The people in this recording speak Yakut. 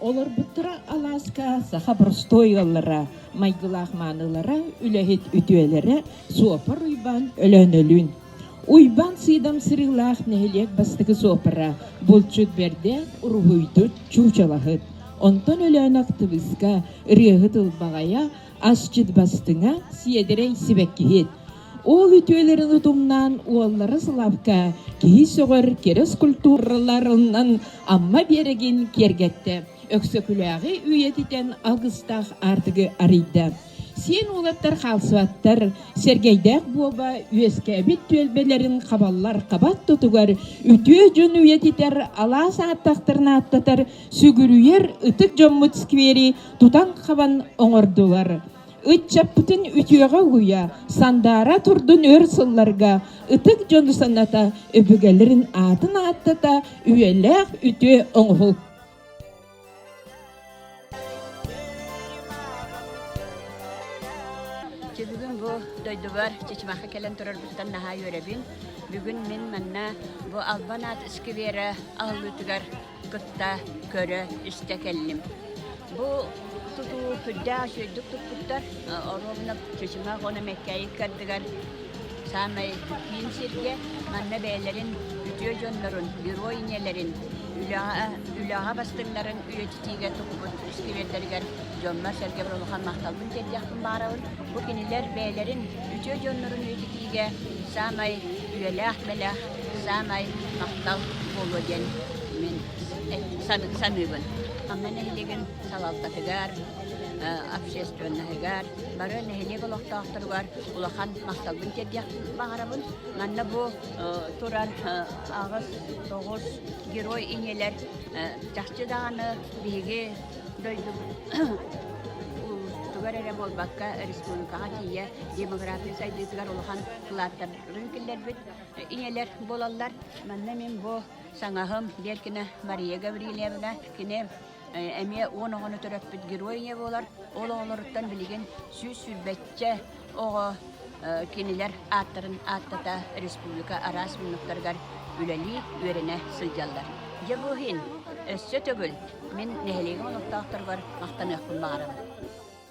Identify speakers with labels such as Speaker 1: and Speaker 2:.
Speaker 1: Олорбуттара алааска саха простой ыаллара, майгылаах маанылара, үлэһит үтүөлэрэ Суопар Уйбаан Өлөөнөлүүн. Уйбаан Сыыдам сырыылаах нэһилиэк бастакы суопара булчут берде уруһуйдут чуучалаһыт. Онтон Өлөөнөх тыбыска, ырыаһыт ылбаҕайа, асчыт бастыҥа, сиэдэрэй сибэккиһит. Ол үтүөлэрин утумнаан уоллара Славка киһи сөҕөр кэрэ скульптураларынан Амма биэрэгин киэргэттэ. Өксөкүлээҕи үйэтитэн алгыстаах аартыгы арыйда. Сиэн уолаттар хаалсыбаттар, Сэргэйдээх буоба үөскээбит түөлбэлэрин хабаллар хабат тутугар үтүө дьон үйэтитэр алаас ааттахтарын ааттатар сүгүрүйэр ытык дьоммут сквери тутан хабан оҥордулар. Ыччаппытын үтүөҕэ уйа, Сандаара турдун өр сылларга, Ытык дьону саната, Өбүгэлэрин аатын ааттата, Үйэлээх үтүө оҥоһул. Бүгүн бу дойдубар Чечмахха кэлэн турарбытыттан наһаа үөрэбин. Бүгүн мин манна бу Албан аат сквера аһыллыытыгар кытта көрө-истэ кэллим. Бу тутуу күрдээх үчүгэйдик туппуттар, оруобуна чычымах оны мэккэйик кардыгар саамай киин сиргэ манна бэйэлэрин үтүө дьоннорун, герой иньэлэрин үлэҕэ, үлэҕэ бастыҥнарын үйэтитиигэ туппут сквердэригэр дьоммор-сэргэ бары улахан махталбын тиэрdiэхпин баарабын. Бу кинилэр бэйэлэрин үтүө дьоннорун үйэтитиигэ саамай үйэлээх-мэлээх саамай махтал буолуо диэн мин саныыбын. Манна нэһилигин салалтатыгар, общественноһыгар, бары нэһилиэк олохтоохторугар улахан махталбын тиэрдиэхпин баҕарабын. Манна бу туран аҕыс, тоҕус герой ийэлэр чахчы даҕаны биһиги дойду тугар эрэ буолбакка республикаҕа тиийэ демография сайдыытыгар улахан кылааттарын киллэрбит. ийэлэр буолаллар. Манна мин бу саҥаһым Беркина Мария Гаврильевна кини эмиэ уон оҕону төрөппүт герой ийэ буолар. Ол оҕолоруттан билигин сүүс сүүрбэччэ оҕо кинилэр ааттарын ааттата республика араас муннуктарыгар үлэлии, үөрэнэ сылдьаллар. Дьэ бу иһин өссө төгүл мин нэһилиэгим олохтоохторугар махтаныахпын баҕарабын.